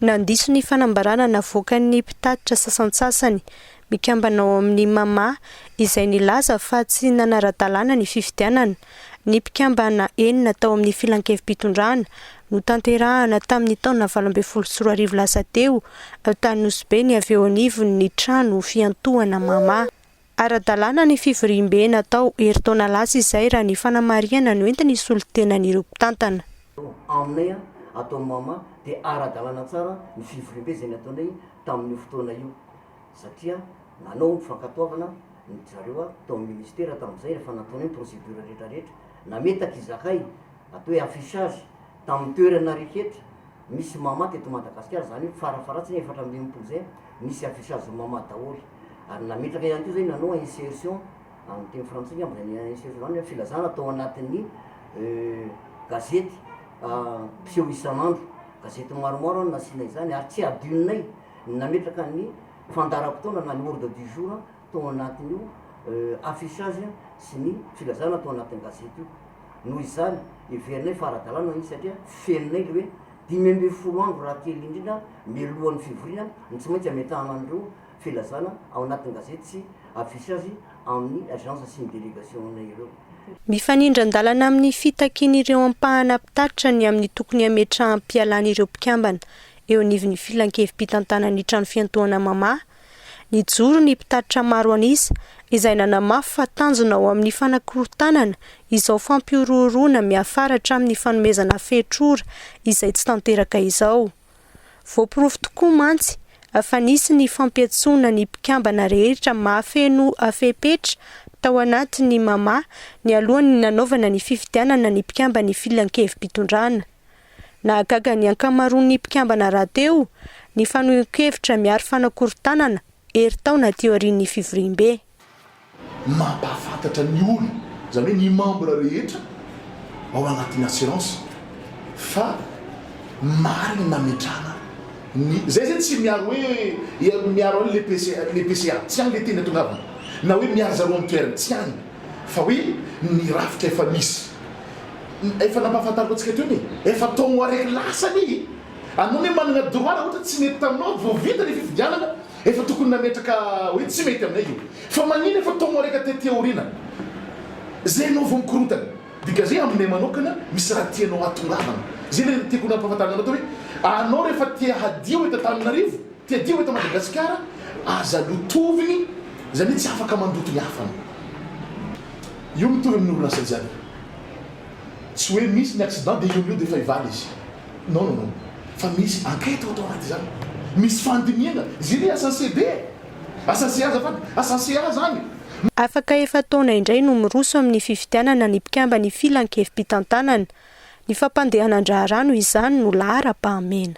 Nandiso ny fanambarana navoakan'ny mpitatitra sasantsasany mikambana ao amin'ny Mama izay nilaza fa tsy nanara-dalàna ny fifidianana. Ny mpikambana enina tao amin'ny filankevi-pitondrana notanterahana tamin'ny taona valo ambin'ny folo sy roa arivo lasa teo tany Nosy Be ny avy eo anivon'ny trano fiantohana Mama. Ara-dalàna ny fivoriambe natao herintaona lasa izay raha ny fanamarihana noentin'ny solontenan'ireo mpitantana. Anne, ataon'i Mama dia ara-dalàna tsara ny fivoriambe izay nataonay tamin'io fotoana io satria nanao ny fankatoavana ny zareo aho tao amin'ny ministera tamin'izay rehefa nataonay ny procédure rehetrarehetra. Nametaka izahay atao hoe affichage Tamin'ny toerana rehetra misy mama teto Madagasikara, izany hoe farafaharatsiny efatra amby enimpolo izay, nisy affichage mama daholo. Ary nametraka ihany koa izay nanao insertion, amin'ny teny frantsay angamba izay ny insertion izany hoe filazana tao anatin'ny gazety mpiseho isan'andro. Gazety maromaro no nasiana izany ary tsy hadinonay ny nametraka ny fandaharam-potoana na ny ordre du jour tao anatin'io affichage sy ny filazana tao anatin'ny gazety io. Noho izany, heverinay fa ara-dalàna izy satria fenonay ilay hoe dimy ambin'ny folo andro raha kely indrindra mialohan'ny fivoriana no tsy maintsy ametrahana an'ireo filazana ao anatin'ny gazety sy affichage amin'ny agence sy ny délégation-nay ireo. Mifanindran-dalana amin'ny fitakian'ireo ampahana mpitatitra ny amin'ny tokony hametraham-pialàn'ireo mpikambana eo anivon'ny Filankevi-pitantanan'ny Trano Fiantohana Mamaha Nijoro ny mpitatitra maro an'isa izay nanamafy fa tanjona ao amin'ny fanakorontanana izao fampihorohoroana miafara hatramin'ny fanomezana fehitr'ora izay tsy tanteraka izao. Voaporofo tokoa mantsy fa nisy ny fampiantsoana ny mpikambana rehetra mahafeno fepetra tao anatin'ny Mama nialohan'ny nanaovana ny fifidianana ny mpikamban'ny filankevi-pitondrana. Nahagaga ny ankamaroan'ny mpikambana rahateo ny fanehoan-kevitra miharo fanakorontanana herintaona aty aorian'ny fivoriambe. Mampahafantatra ny olona, izany hoe ny membre rehetra ao anatin'ny assurance fa marina ny nametrahana ny, izay izay tsy miaro hoe hery miaro an'ilay PCA, ilay PCA, tsy any ilay teny atongavana, na hoe miaro zareo amin'ny toerany, tsy any, fa hoe ny rafitra efa misy. Efa nampahafantariko antsika teo ny efa tao ho areky lasa anie e! Anao ne managna droit raha ohatra tsy nety taminao vao vita le fifidianana efa tokony nametraka hoe tsy mety aminay io fa magnino efa tao ho areka tety aorina zay anao vao mikorontana? Dgazay aminay manokana misy raha tianao hatongavana zay le tiako nampahafantarana anao teo hoe anao refa te hadio eto Antananarivo te hadio eto Madagasikara aza lotovigny zany hoe tsy afaka mandoto ny hafa no io mitovy amin'ny orinasa jiaby. Tsy hoe misy ny accident dia eo no eo dia efa hivaly izy. Non non non. Fa misy enquête ao anaty izany. Misy fandinihana. Izay ny asan'ny CB e! Asan'ny CA azafady. Asan'ny CA izany e! Afaka efa-taona indray no miroso amin'ny fifidianana ny mpikamban'ny Filan-kevi-pitantanana. Ny fampandehanan-draharaha noho izany no laharam-pahamena.